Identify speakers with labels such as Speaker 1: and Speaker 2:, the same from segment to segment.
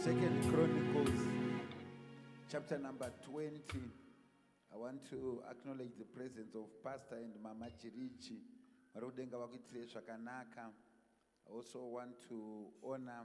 Speaker 1: Second Chronicles, chapter number 20. I want to acknowledge the presence of Pastor and Mama Chirichi. Marudenga vakuitire zvakanaka. I also want to honor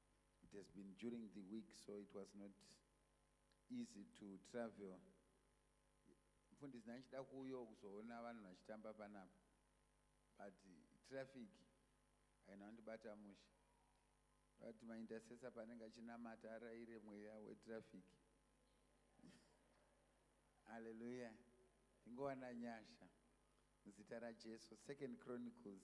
Speaker 1: It has been during the week so it was not easy to travel. Mfundisi ndachida kuuyo kuzoona vanhu vachitamba panapa but traffic haina kundibata mushe. Vati maintercessor panenge achinamata araire mweya wetraffic. Hallelujah. Tingowana nyasha. Muzita raJesu. Second Chronicles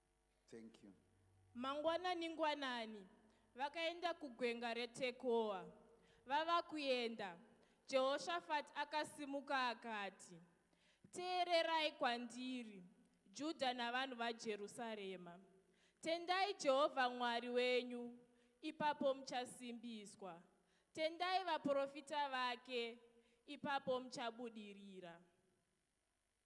Speaker 1: Thank you. Mangwanani-ngwanani
Speaker 2: vakaenda kugwenga reTekoa. Vava kuenda, Jehoshafati akasimuka akati, Teererai kwandiri, Judha navanhu vaJerusarema. Tendai Jehovha Mwari wenyu, ipapo muchasimbiswa. Tendai vaprofita vake, ipapo muchabudirira.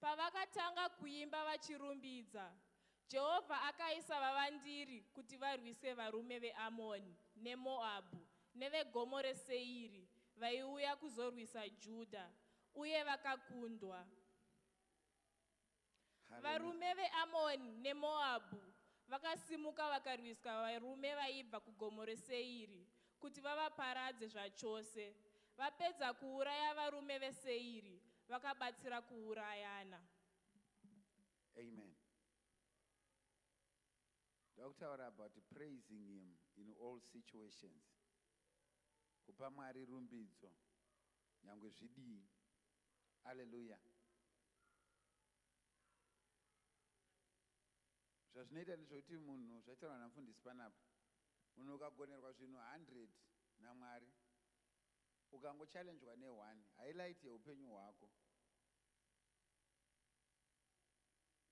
Speaker 2: Pavakatanga kuimba vachirumbidza, Jehovha akaisa vavandiri kuti varwise varume veAmoni neMoabhu neveGomo reSeiri vaiuya kuzorwisa Judha, uye vakakundwa. Varume veAmoni neMoabhu vakasimuka vakarwisa varume vaibva kuGomo reSeiri kuti vavaparadze zvachose. Vapedza kuuraya varume veSeiri, vakabatsira kuurayana.
Speaker 1: Amen. Ndakutaura about praising him in all situations. Kupa Mwari rumbidzo nyangwe zvidii. Hallelujah. Zvazvinoita ndezvekuti munhu zvataurwa namfundisi panapa, munhu ukagonerwa zvinhu 100 naMwari, ukangochallenjwa neone, highlight yeupenyu hwako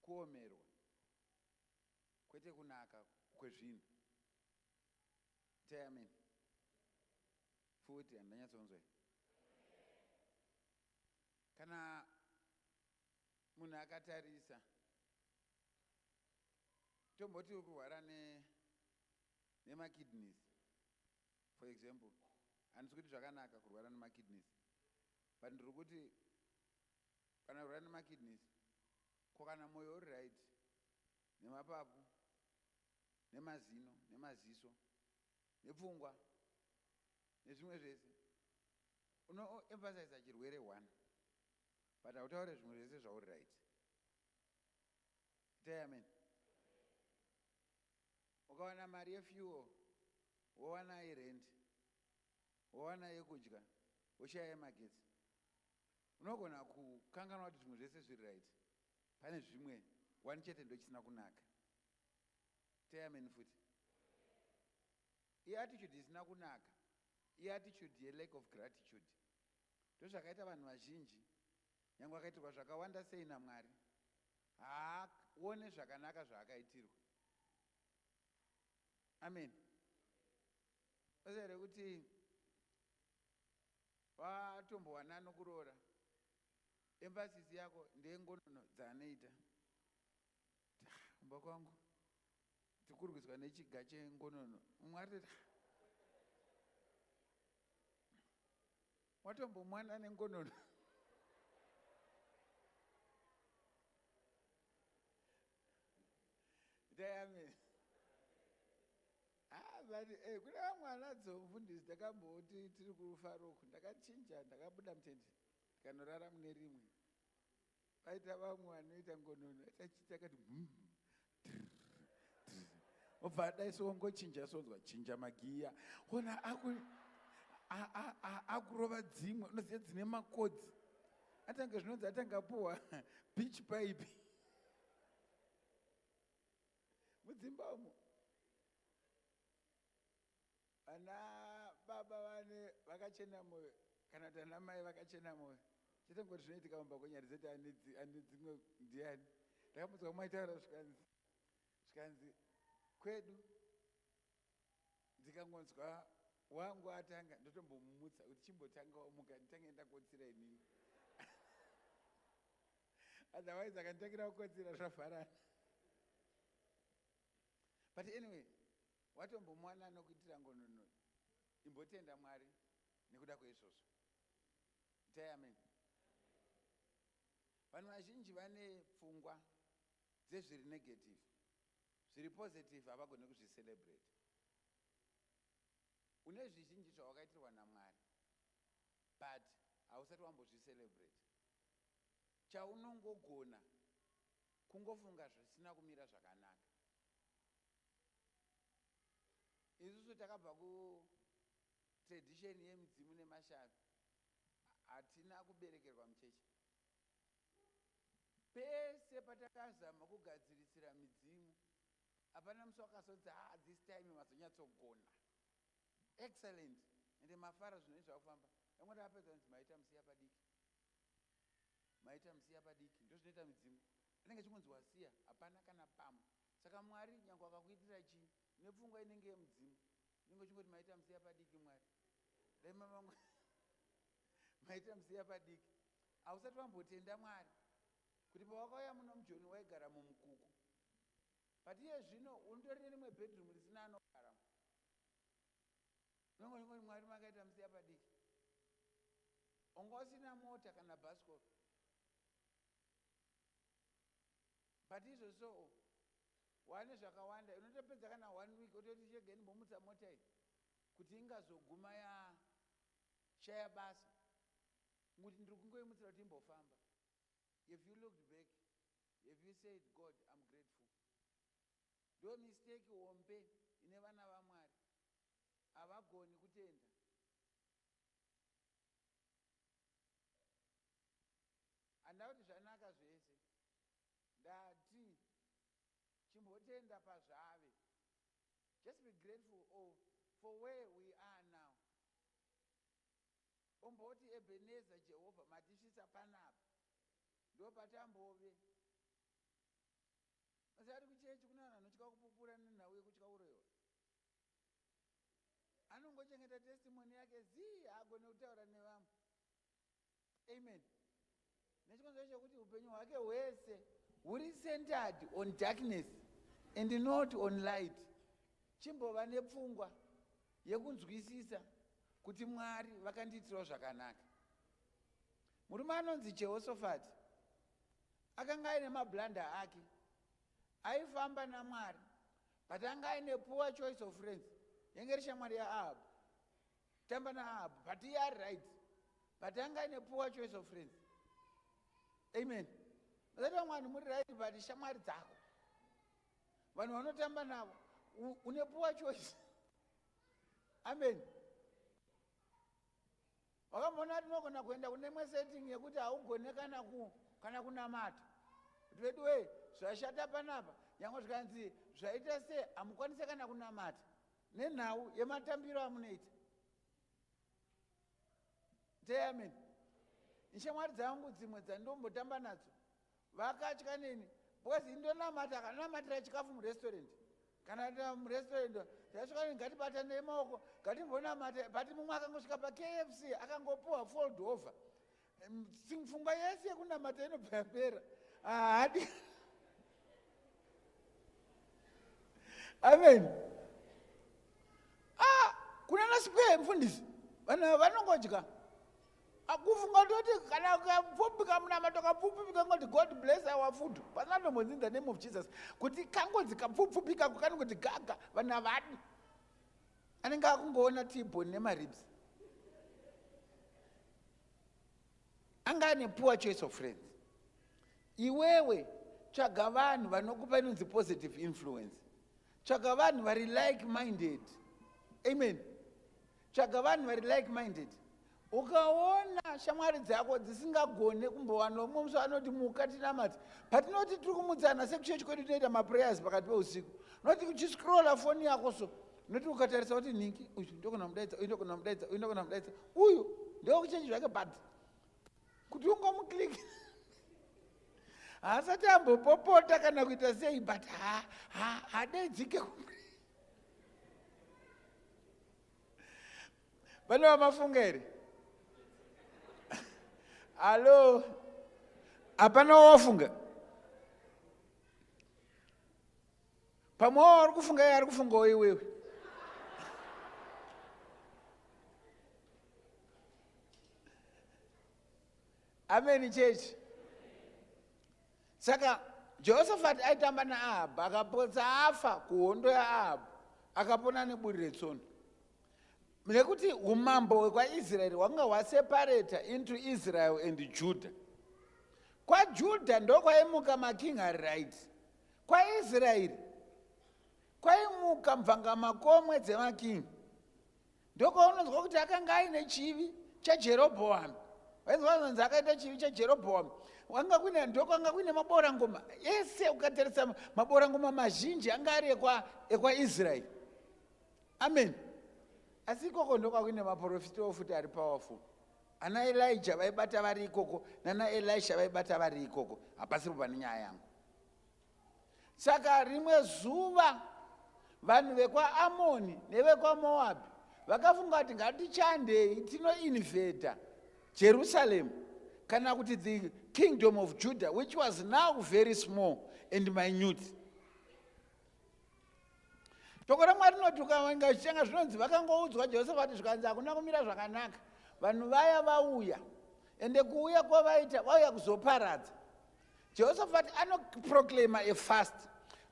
Speaker 1: kuomerwa kwete kunaka kwezvinhu. Tayameni. Futi handanyatsonzwa iyi. Kana munhu akatarisa tomboti uri kurwara ne nemakidneys for example handisi kuti zvakanaka kurwara nemakidneys but ndiri kuti kana kurwara nemakidneys ko kana mwoyo uri right nemapapu nemazino nemaziso nepfungwa nezvimwe zvese unoemphasiza chirwere one but hautaure zvimwe zvese zvauri right itai amen ukawana mari yefuel wowana yerent wowana yekudya woshaya yemagetsi unogona kukanganwa kuti zvimwe zvese zviri right pane zvimwe one chete ndochisina kunaka Teamen futi. Iattitude isina kunaka. Iattitude yelack of gratitude. Ndozvakaita vanhu vazhinji. Nyangwe akaitirwa zvakawanda sei naMwari. Haaone zvakanaka zvaakaitirwa. Amen. Basa here kuti vatombowana nokuroora. Emphasis yako ndengonono dzaanoita. kumba kwangu tikurwiswa nechiga chengonono mumwe atoti watombomwana nengonono tayamini ah, but eh, kune vamwana dzomufundisi ndakamboti tiri kufaroku ndakachinja ndakabuda mutende ndikanorara mune rimwe paita vamwe vanoita ngonono achiita kati obva adai sowongochinja sonzwa chinja magiya ona akurova dzimwe unoziva dzine makodzi atange zvinonzi atange apuwa beach pipe mudzimba umo Vana baba vane vakachena moyo kana kuti ana mai vakachena moyo chete ngoti zvinoitika mumba kwenyari dzete ane dzimwe ndiani ndakamudzwa mwaitaura zvikanzi zvikanzi kwedu ndikangonzwa wangu atanga ndotombomumutsa kuti chimbotanga wamuka nditange ndakotsira inini otherwise akanditangira kukotsira zvavharana but anyway Watombomuwana anokuitira ngonono imbotenda Mwari nekuda kweizvozvo. Itai amen. Vanhu vazhinji vane pfungwa dzezviri negative. Zviri positive havagone kuzvicelebrate. Une zvizhinji zvawakaitirwa naMwari but hausati wambozvicelebrate. Chaunongogona kungofunga zvisina kumira zvakanaka. Isusu takabva ku tradition yemidzimu nemashavi. Hatina kuberekerwa muchechi. Pese patakazama kugadzirisira midzimu, hapana musi wakazonzi ha ah, this time mazonyatsogona. Excellent. Ende mafara zvinhu zvakufamba. Yangu ndakapedza kunzi maita musiya padiki. Maita musiya padiki. Ndozvinoita midzimu. Anenge chingonzi wasiya, hapana kana pamwe. Saka Mwari nyangwe akakuitira chii nepfungwa inenge yemudzimu unenge uchingoti maita musiya padiki Mwari dai mamangu maita musiya padiki hausati wambotenda Mwari kuti pawakauya muno mujoni waigara mumukuku but iye zvino unotori nerimwe bedroom risina anogara unenge uchingoti Mwari makaita musiya padiki onga usina mota kana bhasikoro but izvo soo wane zvakawanda unotopedza kana one week ototi shege ndimbomutsa mota iyi kuti ingazoguma yashaya basa kuti ndiri kungoimutsira kuti imbofamba have you looked back have you said god im grateful ndo mistake hombe ine vana vamwari havagoni kutenda Handina kuti zvanaka zvese. Ndati chimbotenda pazvave. Just be grateful of for where we are now. Umboti Ebenezer Jehovah matisvitsa panapa. Ndopatambove. Musati kuchechi kune vanhu vanotya kupupura nenhau yekutya uroyiwa. Anongochengeta testimony yake zii haagone kutaura nevamwe. amen nechikonzero chekuti upenyu hwake hwese huri centered on darkness and not on light chimbova nepfungwa yekunzwisisa kuti mwari vakandiitirawo zvakanaka murume anonzi jehosofati akanga aine mablanda ake aifamba namwari but anga aine poor choice of friends yenge ri shamwari yaahabhu Tamba na Ahabhu but iye ari right but anga aine poor choice of friends. Amen. Mazati vamwe vanhu muri right but shamwari dzako vanhu vanotamba navo une poor choice. Amen. Wakamboona kuti unogona kuenda kune imwe setting yekuti haugone kana ku kana kunamata kuti veduwee zvashata panapa nyangwe zvikanzi zvaita se hamukwanise kana kunamata Nenhau yematambiro amunoita. Say amen. Nshamwari dzangu dzimwe dzandombotamba nadzo vakatya neni because indonamata akanamatira chikafu murestaurant kana ta murestaurant tasvika neni ngatibatane emaoko ngatimbonamata but mumwe akangosvika pakfc akangopuwa fold over pfungwa yese yekunamata inobva yapera haadi amen ah, kuna nasikwee mfundisi vanhu vanongodya akufunga toti kana kapfupi kamunamato kapfupfupi kangoti god bless our food pasinatombozi in the name of jesus kuti kangozi kapfupfupi kako kanongoti gaga vanhu havadi anenge akungoona tiboni nemaribs anga ane poor choice of friends iwewe tsvaga vanhu vanokupa inonzi positive influence tsvaga vanhu vari like minded amen tsvaga vanhu vari like minded ukaona shamwari dzako dzisingagone kumbowanawo mumwe musi anoti muka tinamati patinoti tiri kumutsana sekuchechi kwedu tinoita maprayers pakati peusiku noti uchiscrolla foni yako so noti ukatarisa kuti ningi uyu ndokona mudaidza uyu ndokona mudaidza uyu ndokona mudaidza uyu ndokuchenji zvake bad kuti ungomuklik haasati ambopopota kana kuita sei but hadaidzike vane vamafunga here hallo hapana wawafunga Pamwewo ari kufunga iye ari kufungawo iwewe. Amen church. Saka Jehoshaphat aitamba naAhab akapotsa afa kuhondo yaAhab akapona neburi retsono. Nekuti umambo hwekwaIsraeri hwanga hwasepareta into Israel and Judah. KwaJudah ndokwaimuka making ari right. KwaIsraeri kwaimuka mvangamakomwe dzemakingi ndokwaunonzwa kuti akanga aine chivi chajerobhoami waizwanonzi akaita chivi chajerobhoami wanga kuine ndokwanga kuine maborangoma ese ukatarisa maborangoma mazhinji anga ari ekwaisraeri amen asi ikoko ndokwa kuine maprofita ofuti ari powerful ana elija vaibata vari ikoko nana elisha vaibata vari ikoko hapasiripo pane nyaya yangu saka rimwe zuva vanhu vekwaamoni nevekwamoabhi vakafunga kuti ngatichandei tinoinvhedha jerusaremu kana kuti the kingdom of judah which was now very small and minute toko ramwari rinoti ukainga zvichanga zvinonzi vakangoudzwa jehoshafati zvikanzi hakuna kumira zvakanaka vanhu vaya vauya ende kuuya kwavaita vauya kuzoparadza jehoshafati anoproclaima a fast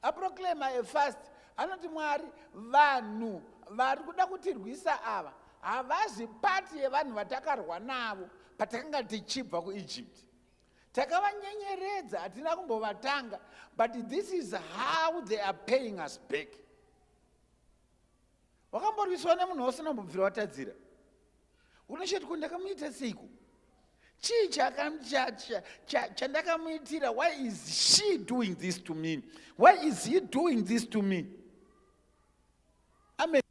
Speaker 1: aproclaima a fast anoti mwari vanhu vari kuda kutirwisa ava havazi pati yevanhu vatakarwa navo patakanga tichibva kuegypt takavanyenyeredza hatina kumbovatanga but this is how they are paying us back wakamborwiswa nemunhu wose unambobvira watadzira unoshati ko ndakamuita seiko chii chandakamuitira why is she doing this to me why is he doing this to me amen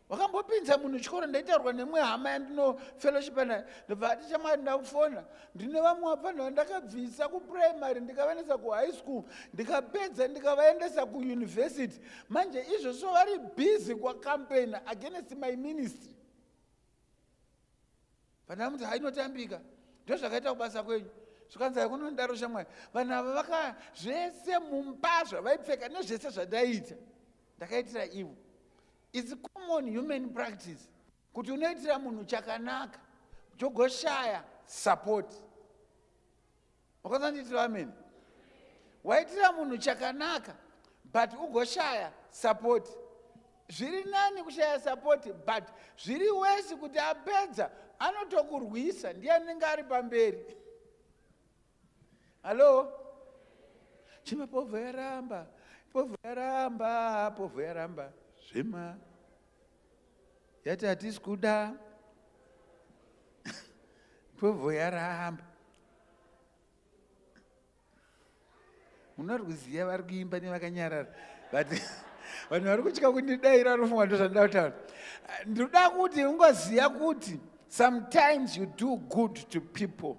Speaker 1: wakambopinza munhu chikoro ndaitaurwa nemwe hama yandinofellowshipa nayo ndobva ati chamwari ndakufona ndine vamwe vafanira ndakabvisa kuprimary ndikavaendesa kuhigh school ndikapedza ndikavaendesa kuuniversity manje izvozvo vari busy kwacampaign against my ministry vana muti hainotambika ndozvakaita kubasa kwenyu zvikanzi haikunondaro shamwari vanhu ava vaka zvese mumba zvavaipfeka nezvese zvandaiita ndakaitira ivo its common human practice kuti unoitira munhu chakanaka chogoshaya support makonzandiitira ameni waitira munhu chakanaka but ugoshaya sapoti zviri nani kushaya sapoti but zviri wesi kuti apedza anotokurwisa ndiye anenge ari pamberi hallo chima povho yaramba povho yaramba povho yaramba zvema yati hatisi kuda pfobvo yaramba munorwiziya vari kuimba nevakanyarara but vanhu vari kutya kundidaira anofunga ndo zvandoda kutaura ndoda kuti ungoziva kuti sometimes you do good to people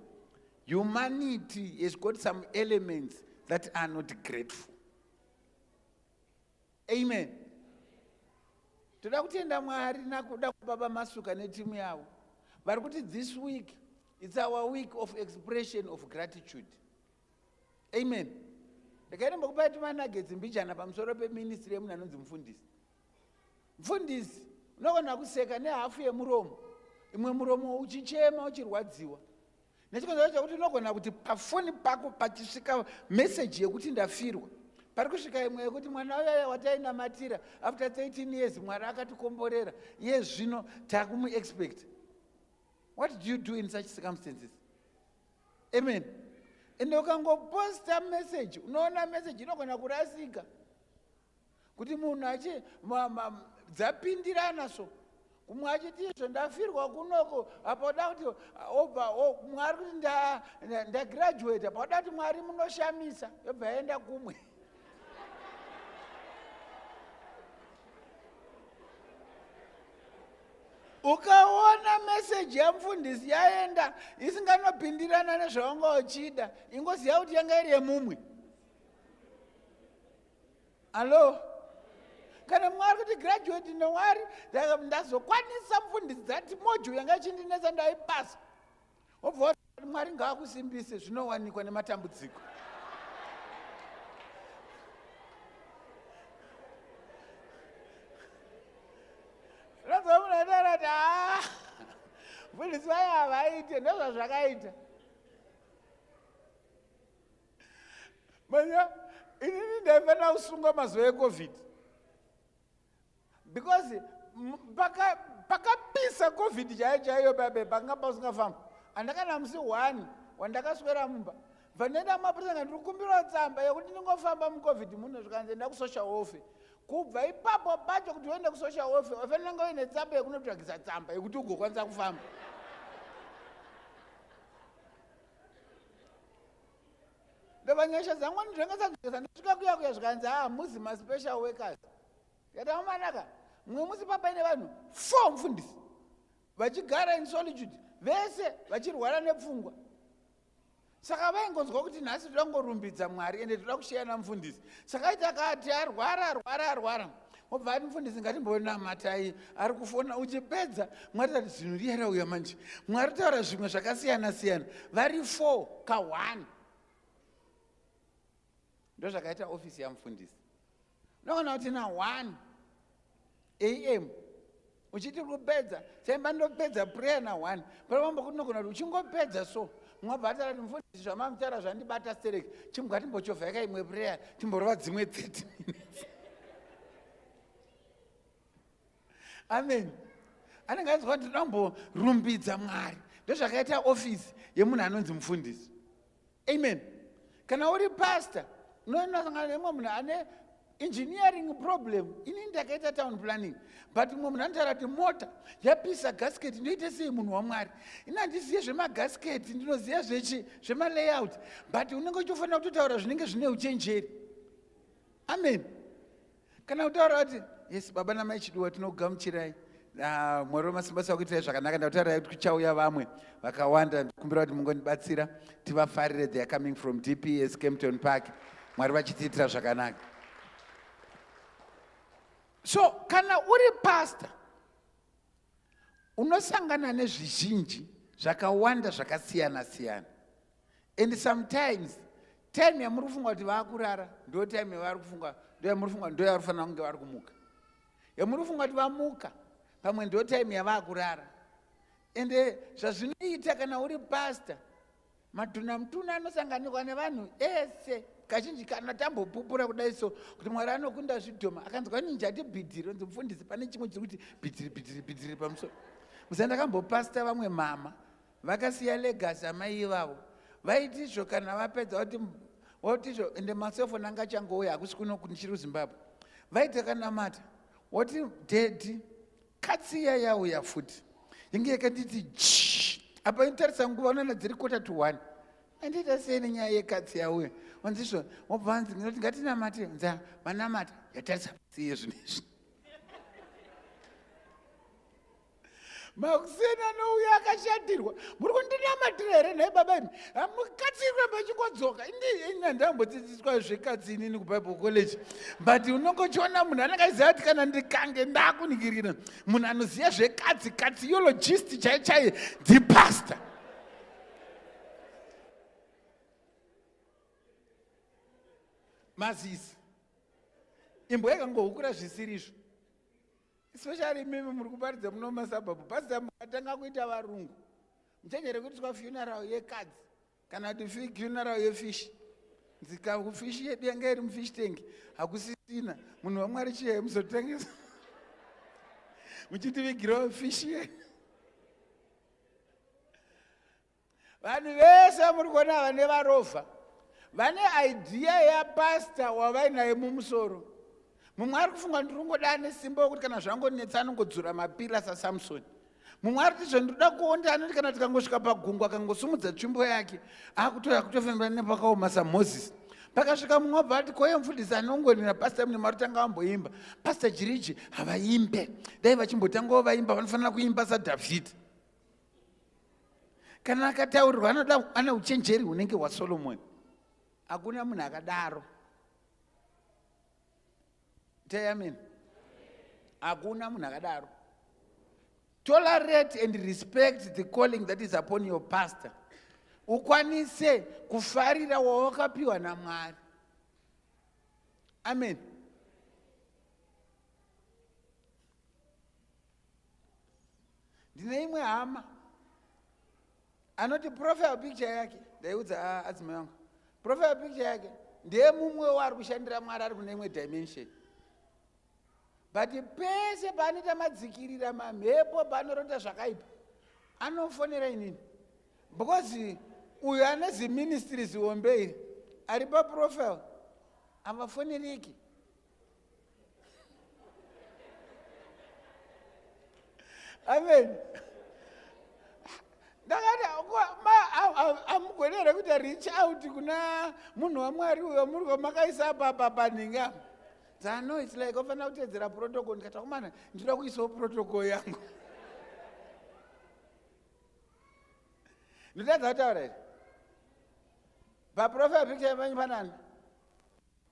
Speaker 1: humanity has got some elements that are not grateful amen toda kutenda mwari nakuda kubaba masuka netimu yavo vari kuti this week its our week of expression of gratitude amen ndakainombokupai tumanagetsi mbijana pamusoro peministry yemunhu anonzi mufundisi mufundisi unogona kuseka nehafu yemuromo imwe muromo uchichema uchirwadziwa nechikonzero chekuti unogona kuti pafoni pako pachisvika meseji yekuti ndafirwa pari kusvika imwe yekuti mwana uyaya watainamatira after 13 years mwari akatikomborera iye zvino takumuexpect what do you do in such circumstances amen ende ukangoposta meseji unoona meseji inogona kurasika kuti munhu achi dzapindirana so kumwe achiti izvo ndafirwa kunoko apa oda kuti obva mwari kuti ndagraduate apa oda kuti mwari munoshamisa yobva yaenda kumwe ukaona meseji yamufundisi yaenda isinganopindirana nezvawanga uchida ingoziva kuti yanga iri yemumwe allo kana mwari kuti graduate nowari ndazokwanisa mfundisi dzati mojo yanga ichindinetsa ndaipasa wobva wati mwari ngaakusimbise zvinowanikwa nematambudziko rozomunatarati haa mfundisi vaye havaite ndozvazvakaita manya inini ndaifanira kusungwa mazuva ecovid because pakapisa covid chaiyo chaiyo babe panga pasingafamba andakana musi one wandakaswera mumba vanenda mapurisa nga ndiri kumbirawo tsamba yekuti ndingofamba mucovid muno zvikanzi enda kusocial welfare kubva ipapo pacho kuti uende kusocial welfare wafanira nga uine tsamba yekunotsvagisa tsamba yekuti ugokwanisa kufamba ndobva nyasha dzangu ndinenge dzakujesa ndosvika kuya kuya zvikanzi haa ah, muzi maspecial workers yataomanaka mumwe musi papaine vanhu four mfundisi vachigara in solitude vese vachirwara nepfungwa saka vaingonzwa kuti nhasi toda kungorumbidza mwari ende toda kusheyana mfundisi saka ita kati arwara arwara arwara wobva ati mufundisi ngatimbonamatai ari kufona uchipedza mwari tati zvinhu riyera uya manje mwari taura zvimwe zvakasiyana siyana vari four ka one ndozvakaita ofisi yamufundisi unoona kuti na one am uchiti uri kupedza chaimba ndopedza prayer na one pari vamba kuti nogona kuti uchingopedza so mwabva atara kuti mufundisi zvamamutara zvandibata stereki chimbwa timbochovha yaka imwe prayer timborova dzimwe 30 minutes amen anenge ainzwa kuti ndomborumbidza mwari ndozvakaita ofisi yemunhu anonzi mufundisi amen kana uri pastor unonosangana nemwe munhu ane engineering problem ini ndakaita town planning but mumwe munhu anotaura kuti mota yapisa gasket ndinoita sei munhu wamwari ini handizive zvemagasket ndinoziva zvechi zvemalayout but unenge uchitofanira kutotaura zvinenge zvine uchenjeri amen kana kutaura kuti yes baba namai chiduwa tinogamuchirai ah, mwari wemasimba sakuitirai zvakanaka ndakutaura kuti kuchauya vamwe vakawanda ndikumbira kuti mungondibatsira tivafarire they are coming from dps campton park mwari vachitiitira zvakanaka so kana uri pasta unosangana nezvizhinji zvakawanda zvakasiyana siyana and sometimes time yamuri kufunga kuti vakurara ndo time yavari kufunga ndo yamuri kufunga ndo yavari kufanira kunge vari kumuka yamuri kufunga kuti vamuka pamwe ndo time yavakurara ende eh, zvazvinoita kana uri pasta matunha mutuna anosanganikwa nevanhu ese kazhinji kana tambopupura kudai so kuti mwari anokunda zvidhoma akanzwa kuti njati bhidhiri onzi mufundisi pane chimwe chiri kuti bhidhiri bhidhiri bhidhiri pamusoro musa ndakambopasta vamwe mama Vakasiya legacy amai ivavo. Vaitizvo kana vapedza vati votizvo ende maselfoni anga achangouya hakusi kuno ndichiri kuzimbabwe vaitakanamata woti dhedhi katsi iya yauya futi inge yakanditi ji apa inotarisa nguva unoona dziri kota to one andiita sei nenyaya yekatsi yauya onzizvo wobva vanzi inoti ngatinamate nza vanamata yatarisa siye zvinezvi makuseni anouya akashatirwa muri kundinamatira here nhai baba imi hamukatsirwe mechingodzoka inandambodzidziswa zvekatsi inini kubible college but unongochiona munhu anenge aiziva kuti kana ndikange ndakuningirira munhu anoziva zvekatsi katsi yologist chai chai ndipastor mazisi imbwa yakangohukura zvisiri izvo especially imimi muri kuparidza muno mumasabhabhu pasita mukatanga kuita varungu muchanyere kuitiswa funeral yekadzi kana kuti funeral yefishi nzika kufishi yedu yanga iri mufish tank hakusisina munhu wamwari chiye muzotengesa muchitivigirawo fishi yedu vanhu vese vamuri kuona ava nevarovha vane idea yapasta wavainaye mumusoro mumwe ari kufunga ndiri kungoda ane simba wekuti kana zvangonetsa anongodzura mapira sasamsoni mumwe ari tizvo ndinoda kuonda anoti kana tikangosvika pagungwa akangosumudza tsvimbo yake akutoya kutofembera nepakaoma samoses pakasvika mumwe wabva ati koye mfundisi anongonera pasta mune mari tanga vamboimba pasta jiriji havaimbe dai vachimbotangawo vaimba vanofanira kuimba sadhavhidhi kana akataurirwa anoda ane uchenjeri hunenge hwasolomoni hakuna munhu akadaro teyamini hakuna munhu akadaro tolerate and respect the calling that is upon your pastor ukwanise kufarira wawakapiwa namwari amen ndine imwe hama anoti profile picture yake ndaiudza ah, adzimai vangu profile picture yake ndeye mumwe waari kushandira mwari ari kune imwe dimension but pese paanoita madzikirira mamhepo paanorota zvakaipa anofonera inini because uyo ane ziministries hombe iri ari paprofile havafonereki amen ndakati amugoni here kuti reach out kuna munhu wamwari uyo muri wamakaisa apapa panhinga dzano its like ofanira kutedzera protocol ndikati akomana ndinoda kuisawo protocol yangu ndotadza kutaura here paprofil picture yepanyi panani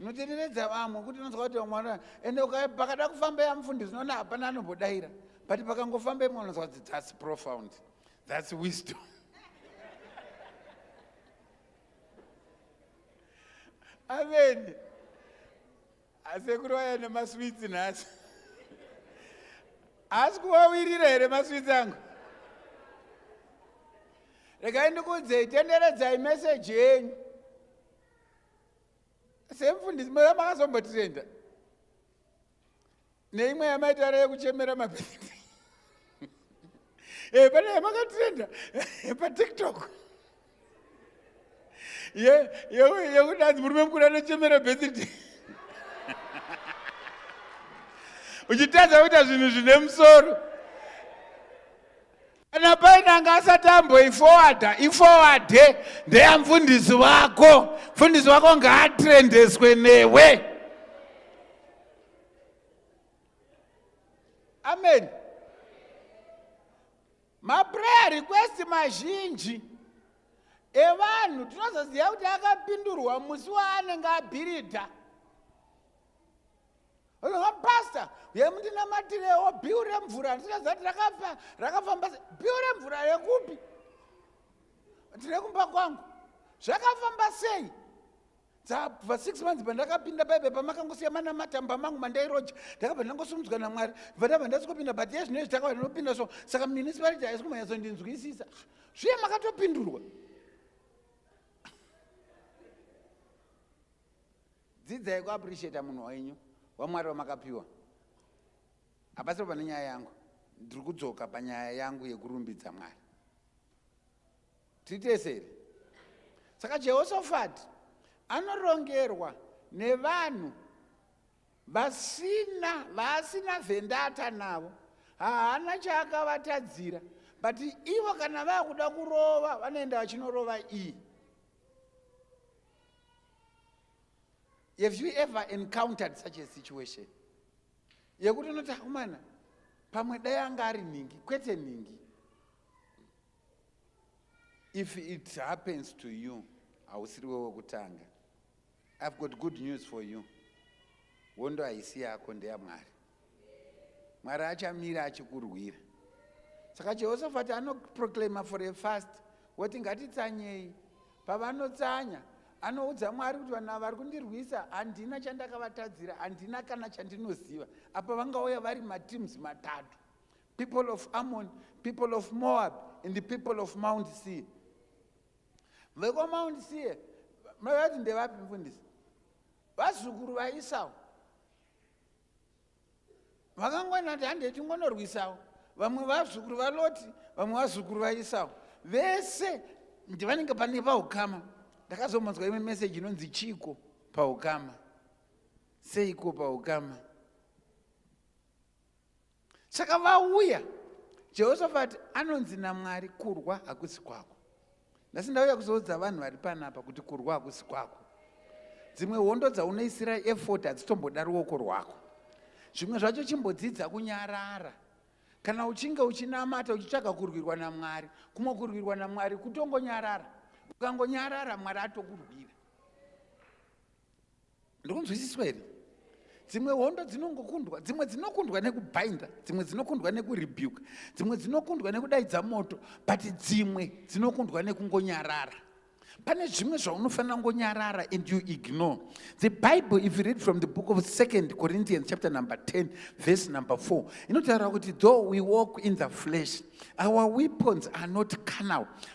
Speaker 1: Unotereredza vamwe kuti unonzwa kuti vamwe vana ende pakada kufamba yamufundisi unoona hapana anombodaira but pakangofamba imwe unonzwa kuti that's profound that's wisdom amen asekuru vaya nemaswitsi nhasi haasi kuvawirira here maswitsi angu regai ndikuudzei tenderedzai meseji yenyu semfundisi maya makazombotirenda neimwe yamaitara yekuchemera mabhindi e eh, pane yamakatirenda eh, patiktok yekudanzi murume mukuru anochemera bethidi uchitadza kuita zvinhu zvine musoro kana paine anga asati amboifowadha ifowadhe ndeya mfundisi wako mfundisi wako ngaatrendeswe newe amen maprayer request mazhinji evanhu tinozoziva kuti akapindurwa musi waanenge abhiridha Onoha pastor, uye mundinamatirewo bill remvura ndisingaziva rakafa rakafamba sei. Bill remvura rekupi? Ndine kumba kwangu. Zvakafamba sei? dzabva six months pandakapinda baibe pamakangosiya manamatamba mangu mandairoja ndakabva ndangosimudzwa namwari bva ndabva ndasikopinda but ye zvino izvi takabva ndinopinda so saka municipality haisi kumanyatsondinzwisisa zviye makatopindurwa Dzidzai ku appreciate munhu wenyu waMwari wamakapiwa. Hapasipo pane nyaya yangu. Ndiri kudzoka panyaya yangu yekurumbidza Mwari. Titeseri. Saka Jehoshaphat anorongerwa nevanhu vasina vaasina vendata navo haana chaakavatadzira but ivo kana vakuda kurova vanoenda vachinorova iyi Have you ever encountered such a situation? Yekuti unoti akomana pamwe dai anga ari nhingi kwete nhingi. If it happens to you, hausiri wewe wekutanga. I've got good news for you. Hondo haisi yako ndeyaMwari. mwari achamira achikurwira saka jehoshafati anoproclaima for a fast woti ngatitsanyei pavanotsanya anoudza mwari kuti vanhu vari kundirwisa handina chandakavatadzira handina kana chandinoziva apa vangauya vari mateams matatu people of ammon people of moab and the people of mount sea vekwamount sea mavati ndevapi mfundisi vazukuru vaisau vakangwana kuti handei tingonorwisawo vamwe vazukuru valoti vamwe vazukuru vaisawo vese ndivanenge pane paukama ndakazomonzwa imwe meseji inonzi chiiko paukama seiko paukama saka vauya jehoshafati anonzi namwari kurwa hakusi kwako nhasi ndauya kuzoudza vanhu vari panapa kuti kurwa hakusi kwako dzimwe hondo dzaunoisira efot hadzitomboda ruoko rwako zvimwe zvacho chimbodzidza kunyarara kana uchinge uchinamata uchitsvaga kurwirwa namwari kumwe kurwirwa namwari kutongonyarara ukangonyarara mwari atokurwira ndikunzwisiswa here dzimwe hondo dzinongokundwa dzimwe dzinokundwa nekubhainda dzimwe dzinokundwa nekurebuka dzimwe dzinokundwa nekudaidza moto but dzimwe dzinokundwa nekungonyarara pane zvimwe zvaunofanira kungonyarara and you ignore the bible if you read from the book of second corinthians chapter number 10 verse number 4 inotaura kuti though we walk in the flesh our weapons are not canal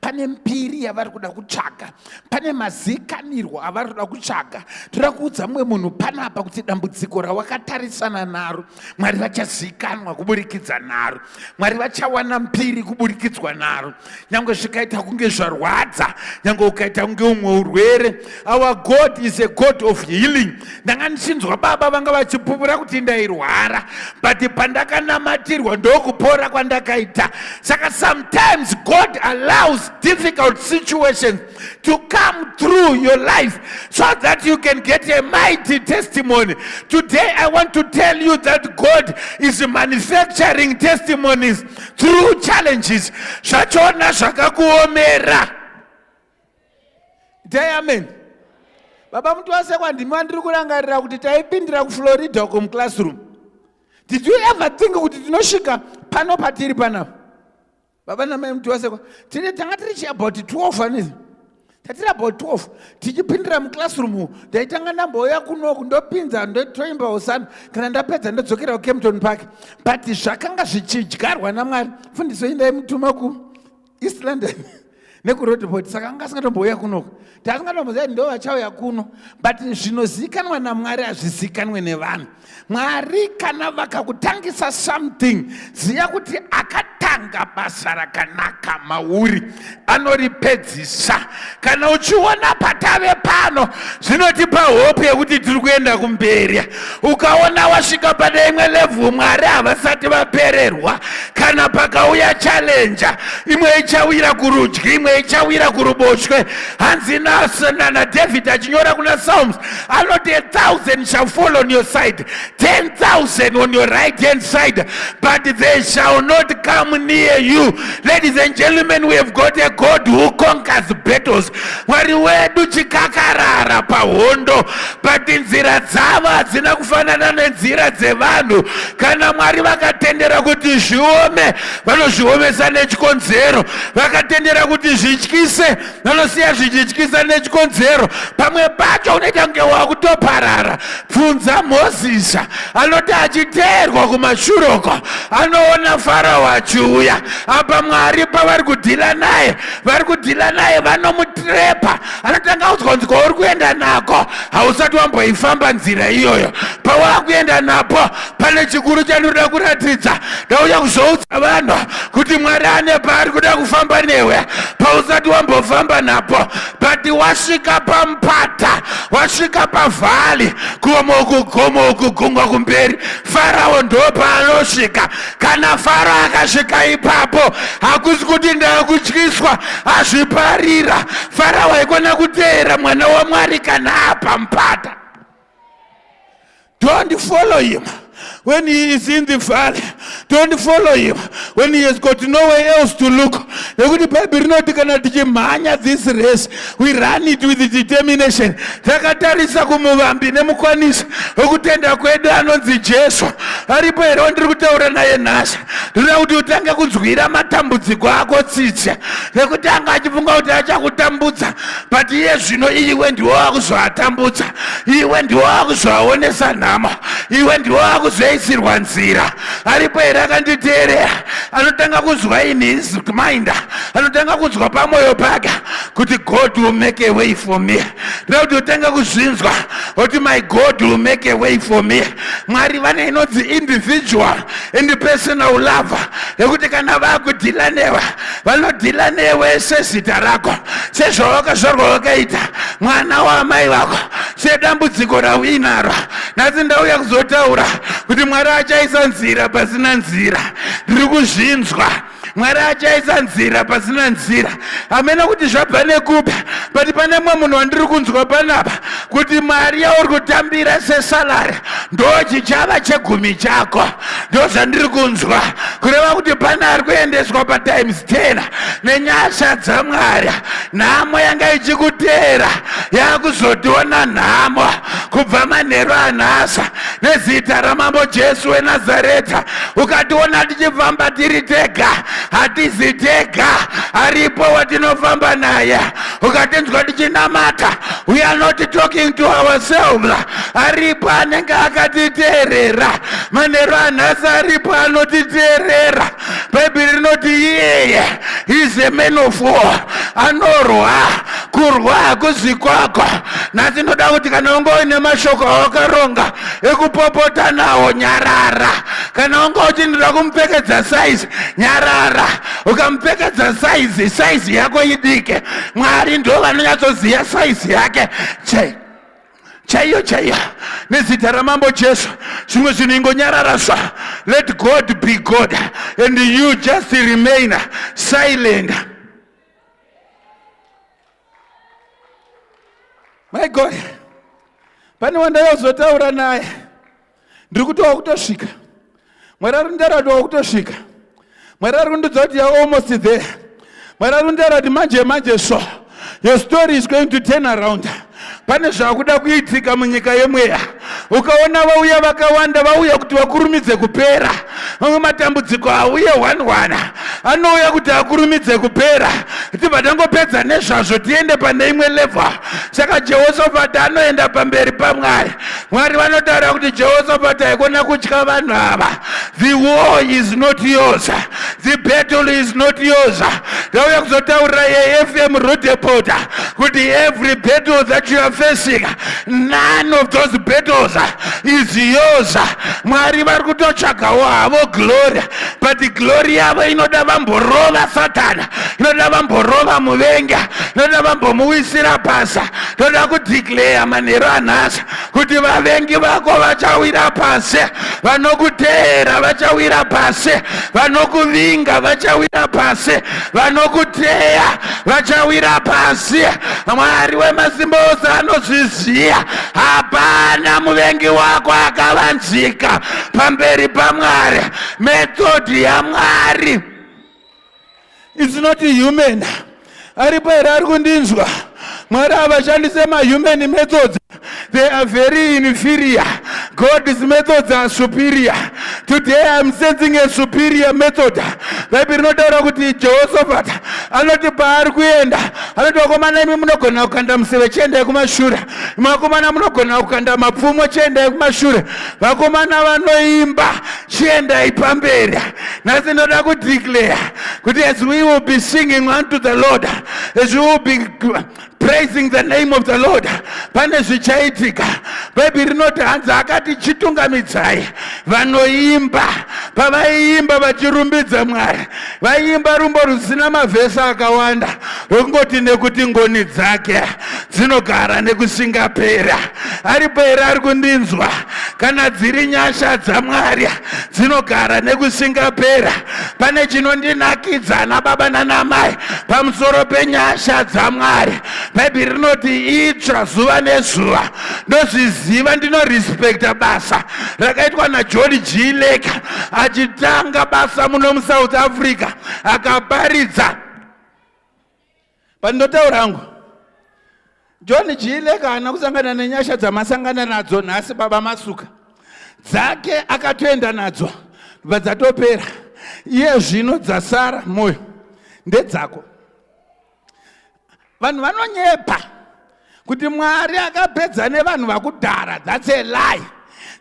Speaker 1: pane mbiri yavari kuda kutsvaga pane mazikanirwo avari kuda kutsvaga toda kuudza mumwe munhu panapa kuti dambudziko rawakatarisana naro mwari vachazikanwa kuburikidza naro mwari vachawana mbiri kuburikidzwa naro nyange zvikaita kunge zvarwadza nyange ukaita kunge umwe urwere Our God is a God of healing. Ndanga ndichinzwa baba vanga vachipupura kuti ndairwara but pandakanamatirwa ndokupora kwandakaita. Saka sometimes God allows difficult situations to come through your life so that you can get a mighty testimony. Today I want to tell you that God is manufacturing testimonies through challenges. Zvachona zvakakuomera. dai amen baba mutowasekwa ndimi vandiri kurangarira kuti taipindira kuflorida uko muclassroom did you ever think kuti tinosvika pano patiri panapa baba namai mutowasekwa tine tanga tiri chiabout 12 anizi tatiri about 12 tichipindira muclassroom u ndaitanga ndambouya kunoku ndopinza ndotoimba hosana kana ndapedza ndodzokera kucampton park but zvakanga zvichidyarwa namwari fundiso indaimutuma ku east london nekurodport saka anga asingatombouya kunoka taasingatombozia kuti ndo vachauya kuno but zvinozivikanwa namwari hazvizivikanwe nevanhu mwari kana vakakutangisa something ziva kuti akatanga basa rakanaka mauri anoripedzisa kana uchiona patave pano zvinotipa hope yekuti tiri kuenda kumberi ukaona wasvika pane imwe levhu mwari havasati vapererwa kana pakauya chalenja imwe ichawira kurudyi imwe ichawira kuruboshwe hanzi nana david achinyora kuna psalms anoti a thousand shall fall on your side 10,000 on your right hand side, but they shall not come near you. Ladies and gentlemen, we have got a God who conquers battles. Mwari wedu chikakarara pahondo, but nzira dzavo hadzina kufanana nenzira dzevanhu. Kana Mwari vakatendera kuti zviome, vanozviomesa nechikonzero. Vakatendera kuti zvityise nonosiya zvichityisa nechikonzero pamwe pacho unoita kunge wakutoparara bvunza mhozisa anoti achiteerwa kumashure uko anoona farao achiuya apa mwari pavari kudhila naye vari kudhila naye vanomutrepa anotanga udzwa kunzi kwauri kuenda nako hausati wamboifamba nzira iyoyo pawakuenda napo pane chikuru chandinoda kuratidza ndauya kuzoudza vanhu kuti mwari ane paari kuda kufamba newe pausati wambofamba napo but wasvika pamupata wasvika pavhali kuoma ukugoma ukugungwa kumberi farao ndo paanosvika kana faro akasvika ipapo hakusi kuti ndakutyiswa azviparira farao aikona kuteera mwana wamwari kana apamupata Don't follow him when he is in the valley. Don't follow him when he has got nowhere else to look. Nekuti Bible rinoti kana tichimhanya this race, we run it with determination. Takatarisa kumuvambi nemukwanisi wekutenda kwedu anonzi Jesu. Aripo here wandiri kutaura naye nhasi? Ndinoda kuti utange kunzwira matambudziko ako tsitsi nekuti anga achifunga kuti achakutambudza but iye zvino iwe ndiwo wakuzoatambudza iwe ndiwo wakuzoaonesa nhamo iwe ndiwo wakuzoisirwa nzira aripo here akanditeerera anotanga kunzwa in his mind anotanga kunzwa pamwoyo pake kuti god will make a way for me nda kuti otanga kuzvinzwa oti my god will make a way for me mwari vane inonzi individual and personal lover yekuti kana vakudhila newe vanodhila newe sezita rako sezvawakazvarwa wakaita mwana waamai vako sedambudziko rauinaro nhasi ndauya kuzotaura kuti mwari achaisa nzira pasina nzira ndiri kuzvinzwa mwari achaisa nzira pasina nzira hamena kuti zvabva nekupi but pane mwe munhu wandiri kunzwa panapa kuti mari yauri kutambira sesalari ndochichava chegumi chako ndozvandiri kunzwa kureva kuti pane ari kuendeswa patimes 10 nenyasha dzamwari nhamo yanga ichikuteera yakuzotiona nhamo kubva manheru anhasa nezita ramambo jesu wenazareta ukationa tichifamba tiri tega hatizi tega aripo watinofamba naye ukatinzwa ndichinamata we are not talking to ourselves aripo anenge akatiteerera manheru anhasi aripo anotiteerera bhaibheri rinoti iyeye is a man of war anorwa kurwa hakuzi kwako nhasi ndoda kuti kana unge uine mashoko awakaronga ekupopota nawo nyarara kana unge uchindoda kumupfekedza saizi nyarara ukamupfekedza saizi saizi yako idike mwari ndo vanonyatsoziva saizi yake chei chaiyo chaiyo nezita ramambo jesu zvimwe zvinhu ingonyarara sva let god be god and you just remain silent my god pane wandayozotaura naye ndiri kuti wakutosvika mwari ari kunditaura kuti wakutosvika mwari ari kundidza kuti you're almost there mwari ari kunditaura kuti manje manje so your story is going to turn around pane zvakuda kuitika munyika yemweya ukaona vauya vakawanda vauya kuti vakurumidze kupera mamwe matambudziko auye hwanhwana anouya kuti akurumidze kupera tibva tangopedza nezvazvo tiende pane imwe levha saka jehoshafati anoenda pamberi pamwari Mwari vanotaura kuti Jehoshaphat haikona kutya vanhu ava. The war is not yours. The battle is not yours. Ndauya kuzotaurira yeFM Rudepota kuti every battle that you are facing, none of those battles is yours. Mwari vari kutotsvagawo havo glory, but glory yavo inoda vamborova Satana, inoda vamborova muvenga, inoda vambomuwisira basa. toda kudeclare manheru anhasi kuti vavengi vako vachawira pasi vanokuteera vachawira pasi vanokuvinga vachawira pasi vanokuteya vachawira pasi mwari wemasimba ose anozviziva hapana muvengi wako akavanzika pamberi pamwari methodhi yamwari It's not human. Aripo here ari kundinzwa? Mwari havashandise mahuman methods. They are very inferior. God's methods are superior. Today I'm sensing a superior method. Bhaibheri rinotaura kuti Jehoshaphat anoti paari kuenda anoti vakomana imi munogona kukanda museve chiendai kumashure. Vakomana munogona kukanda mapfumo chiendai kumashure. Vakomana vanoimba chiendai pamberi nhasi ndoda kudeclare kuti as we will be singing unto the lord as we will be praising the name of the lord pane zvichaitika bhaibheri rinoti hanzi akati chitungamidzai vanoimba pavaiimba vachirumbidza mwari Vaiimba rumbo rusina mavhesi akawanda rwekungoti nekuti ngoni dzake dzinogara nekusingapera. Aripo here ari kundinzwa? Kana dziri nyasha dzaMwari dzinogara nekusingapera. Pane chinondinakidza ana baba nana mai pamusoro penyasha dzaMwari. Bhaibheri rinoti itsva zuva nezuva. Ndozviziva, ndinorespekta basa rakaitwa najoni g leka achitanga basa muno musouth africa akaparidza pandinotaura hangu john g leka haana kusangana nenyasha dzamasangana nadzo nhasi baba masuka dzake akatoenda nadzo bva dzatopera iye zvino dzasara mwoyo ndedzako vanhu vanonyepa kuti mwari akapedza nevanhu vakudhara thats a lie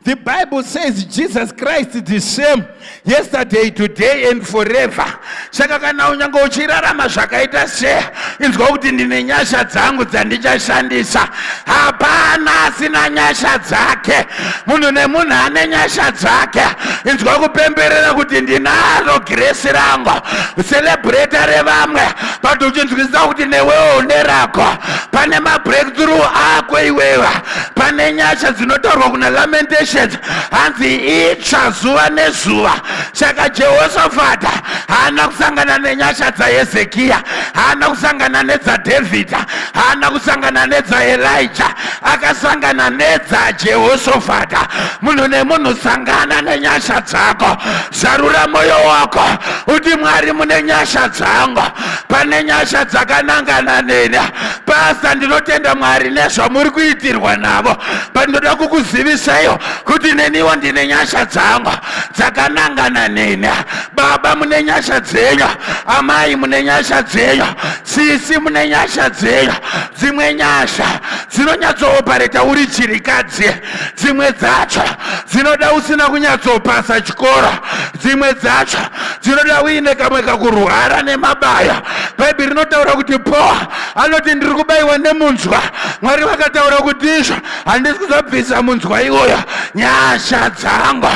Speaker 1: the bible says jesus christ is the same yesterday today and forever saka kana unyange uchirarama zvakaita se inzwa kuti ndine nyasha dzangu dzandichashandisa hapana asina nyasha dzake munhu nemunhu ane nyasha dzake inzwa kupemberera kuti ndinaro giresi rangu selebreta revamwe patochinzwisisa kuti newewo unerako pane mabreakthrough ako iwewa pane nyasha dzinotaurwa kuna lamentations hanzi itsva zuva nezuva saka jehoshafata haana kusangana nenyasha dzahezekiya haana kusangana nedzadhavhidha haana kusangana nedzaelija akasangana nedzajehoshafata munhu nemunhu sangana nenyasha dzako Zarura moyo wako uti Mwari mune nyasha dzangu, pane nyasha dzakanangana neni. Pasta, ndinotenda Mwari nezvamuri kuitirwa navo, pandinoda kukuzivisaiwo kuti neniwo ndine nyasha dzangu dzakanangana neni. Baba mune nyasha dzenyu, amai mune nyasha dzenyu, sisi mune nyasha dzenyu. Dzimwe nyasha dzinonyatsowopareta uri chirikadzi. dzimwe dzacho dzinoda usina kunyatsopasa chikoro dzimwe dzacho dzinoda uine kamwe kakurwara nemabaya bhaibheri rinotaura kuti poa anoti ndiri kubayiwa nemunzwa mwari vakataura kuti izvo handisi kuzobvisa munzwa iwoyo nyasha dzangu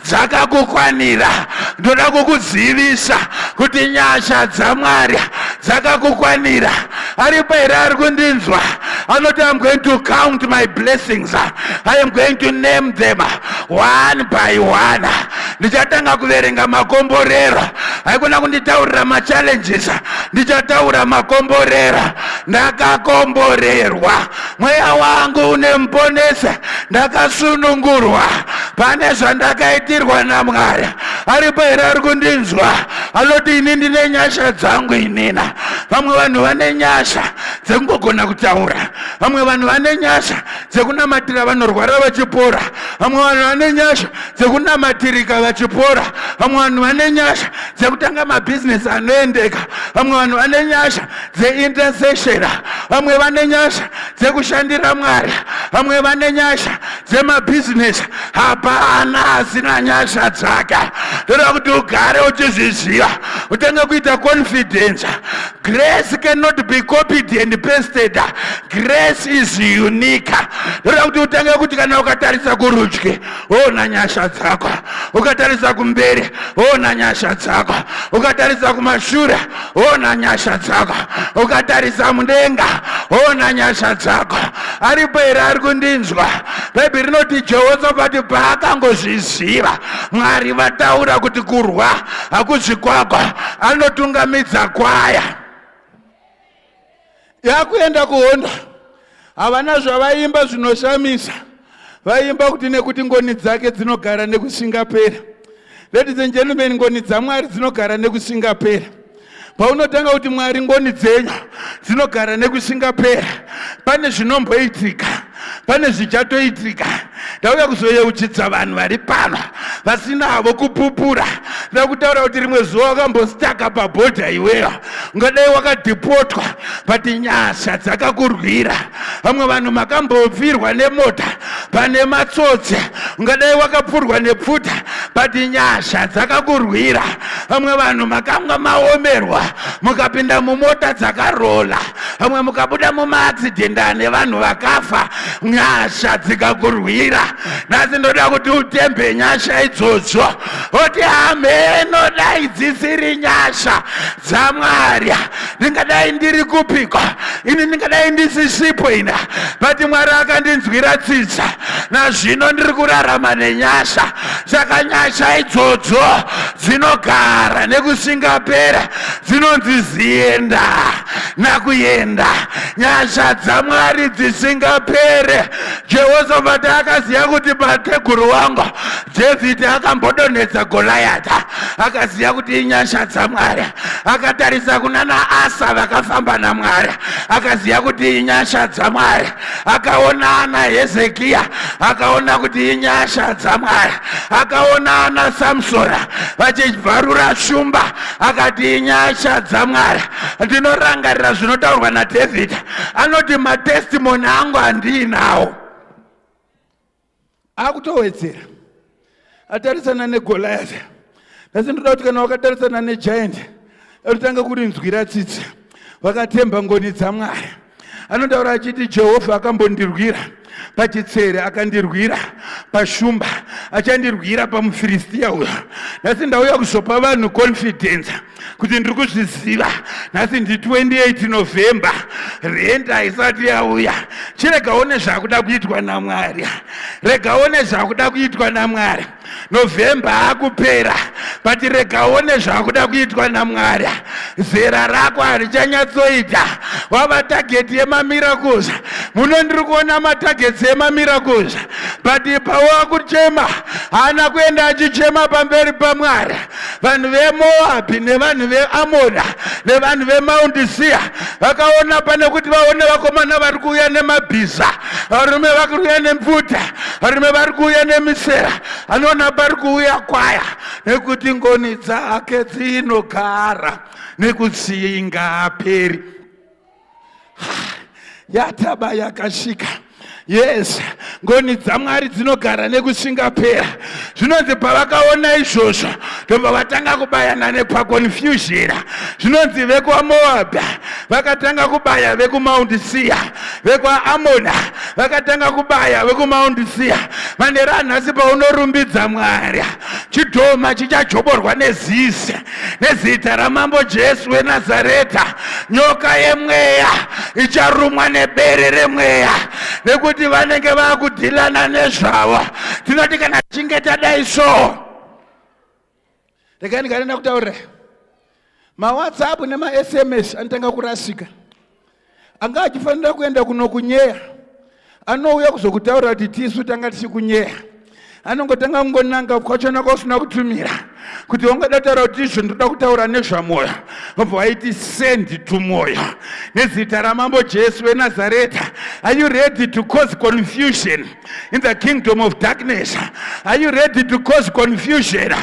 Speaker 1: dzakakukwanira ndoda kukuzivisa kuti nyasha dzamwari dzakakukwanira aripo here ari kundinzwa anoti iam going to count my blessings i am going to name them one by one ndichatanga kuverenga makomborero haikona kunditaurira machallenges ndichataura makomborero ndakakomborerwa Mweya wangu unemponesa ndakasunungurwa pane zvandakaitirwa naMwari aripo here ari kundinzwa anoti ini ndine nyasha dzangu inina vamwe vanhu vane nyasha dzekungogona kutaura vamwe vanhu vane nyasha dzekunamatira vanorwara vachipora vamwe vanhu vane nyasha dzekunamatirika vachipora vamwe vanhu vane nyasha dzekutanga mabhizinesi anoendeka vamwe vanhu vane nyasha dzeintercession vamwe vane nyasha dzekushandira mwari vamwe vane nyasha dzemabhizinesi hapana asina nyasha dzake ndoda kuti ugare uchizviziva utange kuita confidence grace cannot be copied and pasted grace is unique ndoda kuti utange kuti kana ukatarisa kurudyi ona nyasha dzako ukatarisa kumberi ona nyasha dzako ukatarisa kumashure ona nyasha dzako ukatarisa mudenga ona nyasha dzako aripo here ari kundinzwa bhaibheri rinoti jehosafati paakangozviziva mwari vataura kuti kurwa hakuzvikwagwa anotungamidza kwaya yakuenda kuhondo havana zvavaimba zvinoshamisa vaimba kuti nekuti ngoni dzake dzinogara nekusingapera ladies and gentlemen ngoni dzamwari dzinogara nekusingapera paunotanga kuti mwari ngoni dzenyu dzinogara nekusingapera pane zvinomboitika pane zvichatoitika ndauya kuzoyeuchidza vanhu vari pano vasinavo kupupura nda kutaura kuti rimwe zuva wakambostaka pabhodha iweyo ungadai wakadhipotwa but nyasha dzakakurwira vamwe vanhu makambopfirwa nemota pane matsotsi ungadai wakapfurwa nepfuta but nyasha dzakakurwira vamwe vanhu makanga maomerwa mukapinda mumota dzakarola vamwe mukabuda mumaaccident ane vanhu vakafa nyasha dzikakurwira nhasi ndoda kuti utembe nyasha idzodzo oti hameno dai dzisiri nyasha dzamwari ndingadai ndiri kupiko ini ndingadai ndisisipo ina but mwari akandinzwira tsitsa nazvino ndiri kurarama nenyasha saka nyasha idzodzo dzinogara nekusingapera dzinonzi zienda nakuenda nyasha dzamwari dzisingapere jehoshafati akaziva kuti mateguru wangu dhavhidhi akambodonhedza golayata akaziva kuti inyasha dzamwari akatarisa kunana asa vakafamba namwari akaziva kuti inyasha dzamwari akaona ana hezekiya akaona kuti inyasha dzamwari akaona ana samsona vachibvarura shumba akati inyasha dzamwari ndinorangarira zvinotaurwa nadhavhidha anoti matestimoni angu handiinawo akutowedzera atarisana negoliath asi ndoda kuti kana wakatarisana negiant atotanga kurinzwira tsitsi vakatemba ngoni dzamwari anotaura achiti jehovha akambondirwira pachitsere akandirwira pashumba achandirwira pamufiristiya uyo nhasi ndauya kuzopa vanhu confidence kuti ndiri kuzviziva nhasi ndi 28 november rent haisati yauya chiregaone zvakuda kuitwa namwari regaone zvakuda kuitwa namwari novhemba akupera but regaone zvakuda kuitwa namwari zera rako harichanyatsoita wava tageti yemamiracles muno ndiri kuona matageti emamiracles but pawaakuchema haana kuenda achichema pamberi pamwari vanhu vemoabhi nevanhu veamona nevanhu vemaundi siya vakaona pane kuti vaone vakomana vari kuuya nemabhiza varume vari kuuya nemvuta varume vari kuuya nemisera anoona pari kuuya kwaya nekuti ngoni dzake dzinogara nekutsinga aperi yataba yakasvika yes ngoni dzamwari dzinogara nekusingapera zvinonzi pavakaona izvozvo ndobva vatanga kubayana nepakonfuzhira zvinonzi vekwamoabha vakatanga kubaya vekumaundi siya vekwaamona vakatanga kubaya vekumaundi siya vane ranhasi paunorumbidza mwari chidhoma chichajoborwa nezizi nezita ramambo jesu wenazareta nyoka yemweya icharumwa nebere remweya nekuti vanenge vakudhilana nezvavo tinoti kana tichinge tadai so regai ndikanena kutaurira mawhatsapp nemasms anotanga kurasika anga achifanira kuenda kunokunyeya anouya kuzokutaurira kuti tisu tanga tichikunyeya anongotanga kungonanga kwachona kwausina kutumira kuti ungada taura kuti izvo ndoda kutaura nezvamwoyo obva waiti sendi tumwoyo nezita ramambo jesu wenazareta are you ready to cause confusion in the kingdom of darkness are you ready to cause confusion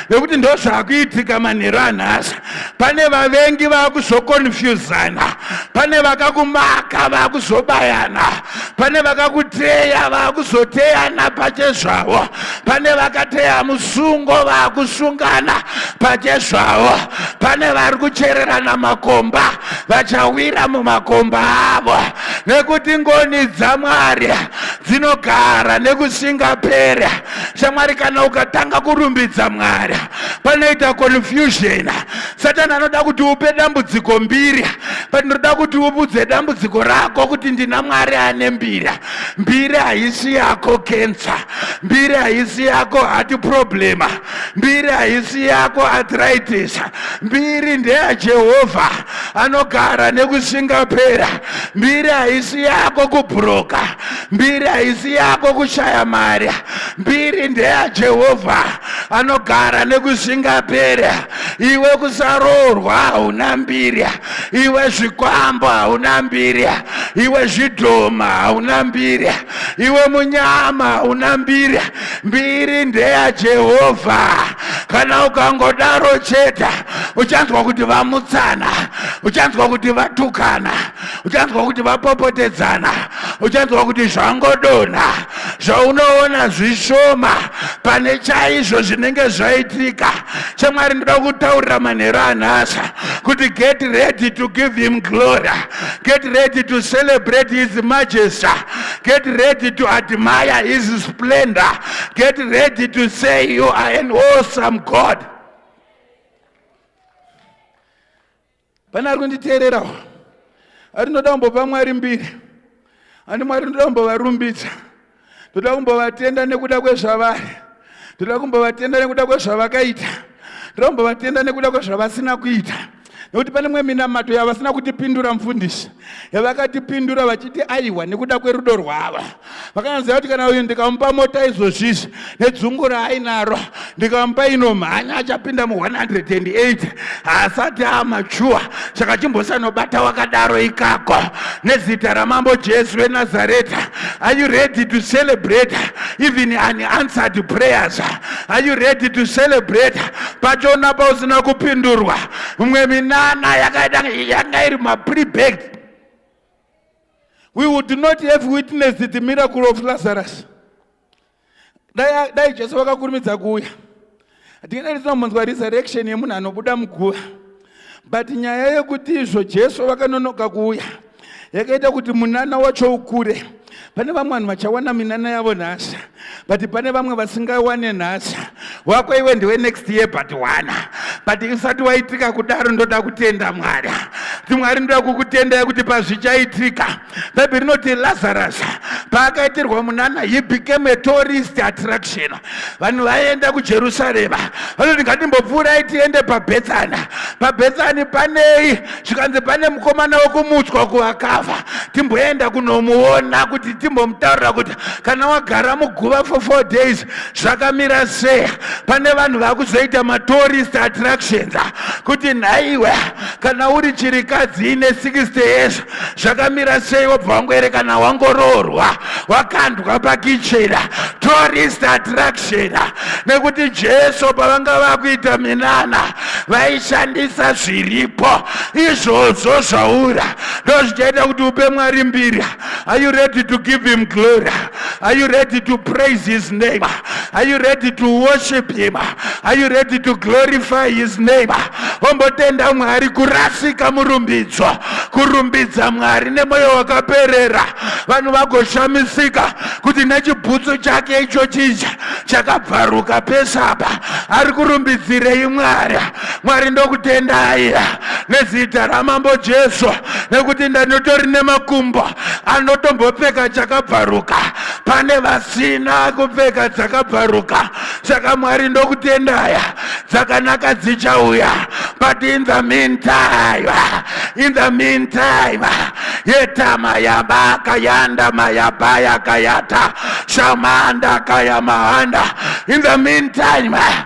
Speaker 1: nekuti ndo zvakuitika manheru anhasi pane vavengi vakuzokonfuzana pane vakakumaka vakuzobayana pane vakakuteya vakuzoteyana pachezvavo pane vakateya musungo vakusungana pachezvavo pane vari kuchererana makomba vachawira mumakomba avo nekuti ngoni dzamwari dzinogara nekusingapera shamwari kana ukatanga kurumbidza mwari panoita confusion satani anoda kuti upe dambudziko mbiri but ndinoda kuti upudze dambudziko rako kuti ndina mwari ane mbiri mbiri haisi yako kensa mbiri haisi yako hati problema mbiri haisi yako arthritis mbiri ndeyajehovha anogara nekusingapera mbiri haisi yako kubhuroka mbiri haisi yako kushaya mari mbiri ndeyajehovha anogara nekusingapera iwe kusaroorwa hauna mbiri iwe zvikwambo hauna mbiri iwe zvidhoma hauna mbiri iwe munyama hauna mbiri mbiri ndeya jehovha kana ukangodaro chete uchanzwa kuti vamutsana uchanzwa kuti vatukana uchanzwa kuti vapopotedzana uchanzwa kuti zvangodonha zvaunoona zvishoma pane chaizvo zvinenge zvaitika chamwari ndoda kutaurira manhero anhasi kuti get ready to give him glory get ready to celebrate his majesty Get ready to admire his splendor. Get ready to say you are an awesome God. Pane ari kunditeererawo ari ndoda kumbopa mwari mbiri ani mwari ndoda kumbovarumbidza ndoda kumbovatenda nekuda kwezvavari ndoda kumbovatenda nekuda kwezvavakaita ndoda kumbovatenda nekuda kwezvavasina kuita nekuti pane mwe minamato yavasina kutipindura mufundisi yavakatipindura vachiti aiwa nekuda kwerudo rwava vakanyaziva kuti kana uyu ndikamupa mota izvozvizvi nedzungu raainaro ndikamupa inomhanya achapinda mu 108 haasati amachuwa saka chimbosanobata wakadaro ikako nezita ramambo jesu venazareta are you ready to celebrate even an answered prayers are you ready to celebrate pachona pausina kupindurwa mumwe minana yakaita yanga iri mapribag we would not have witnessed the miracle of lazarus dai jesu vakakurumidza kuuya hatingadai tinombonzwa resurrection yemunhu anobuda muguva but nyaya yekuti izvo jesu vakanonoka kuuya yakaita kuti munana wacho ukure pane vamwe vanhu vachawana minana yavo nhasi but pane vamwe vasingawane nhasi wako iwe ndiwe next year but wana but usati waitika kudaro ndoda kutenda mwari kuti mwari ndoda kukutendai kuti pazvichaitika bhaibheri rinoti lazarus paakaitirwa munana he became a tourist attraction vanhu vaienda kujerusarema vanoti ngatimbopfuurai tiende pabhetsani pabhetsani panei zvikanzi pane mukomana wekumutswa kuvakafa timboenda kunomuona kuti timbomutaurira kuti kana wagara muguva for four days zvakamira sei pane vanhu vakuzoita matourist attractions kuti nhaiwe kana uri chirikadzi ine 60 years zvakamira sei wobva wangoerekana wangoroorwa wakandwa pakichena tourist attraction nekuti jesu pavanga vakuita minana vaishandisa zviripo izvozvo zvaura ndozvichaita kuti upe mwari mbiri are you ready to give him glory Are you ready to praise his name? Are you ready to worship him? Are you ready to glorify his name? Ombotenda Mwari kurasika murumbidzo, kurumbidza Mwari nemoyo wakaperera. Vanhu vagoshamisika kuti nechibhutsu chake icho chija chakabvaruka pesapa ari kurumbidzirei Mwari. mwari ndokutendai nezita ramambo jesu nekuti ndanotori nemakumbo anotombopfeka chakabvaruka pane vasina kupfeka dzakabvaruka saka mwari ndokutendaya dzakanaka dzichauya but in the meantime in the meantime yetama yabaka yandama yabaya kayata shamanda kayamahanda in the meantime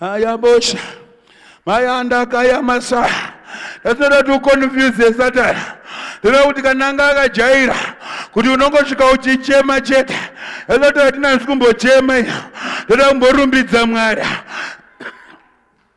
Speaker 1: ayabosha mayandakaya masaa That's not to confuse the Satan. Tinoda kuti kana anga akajaira kuti unongosvika uchichema chete esati atinanzi kumbochema ino toda kumborumbidza mwari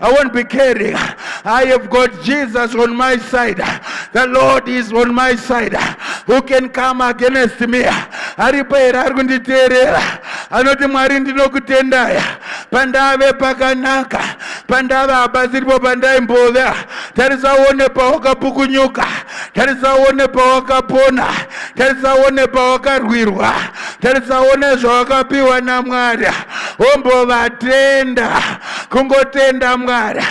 Speaker 1: I won't be caring. I have got Jesus on my side. The Lord is on my side. Who can come against me? Aripo here ari kunditeerera? Anoti Mwari ndinokutendaya pandave pakanaka pandave haba ziripo pandaimbove tarisaone pawakapukunyuka tarisaone pawakapona tarisaone pawakarwirwa tarisaone zvawakapiwa namwari ombovatenda kungotenda mwari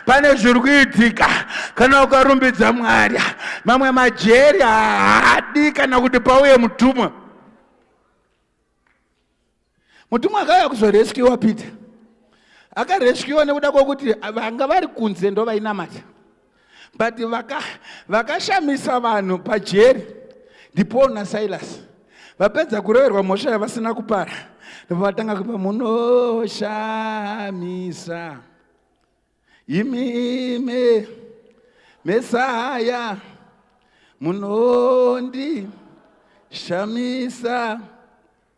Speaker 1: pane zviri kuitika kana ukarumbidza mwari mamwe majeri haadi kana kuti pauye mutumwa mutumwa akauya kuzoreskiwa peter akareskiwa nekuda kwokuti vanga vari kunze ndovainamata but vakashamisa vaka vanhu pajeri ndipaul nasilas vapedza kuroverwa mhosva yavasina kupara ndovatanga kupa munoshamisa imime mesaya munondi shamisa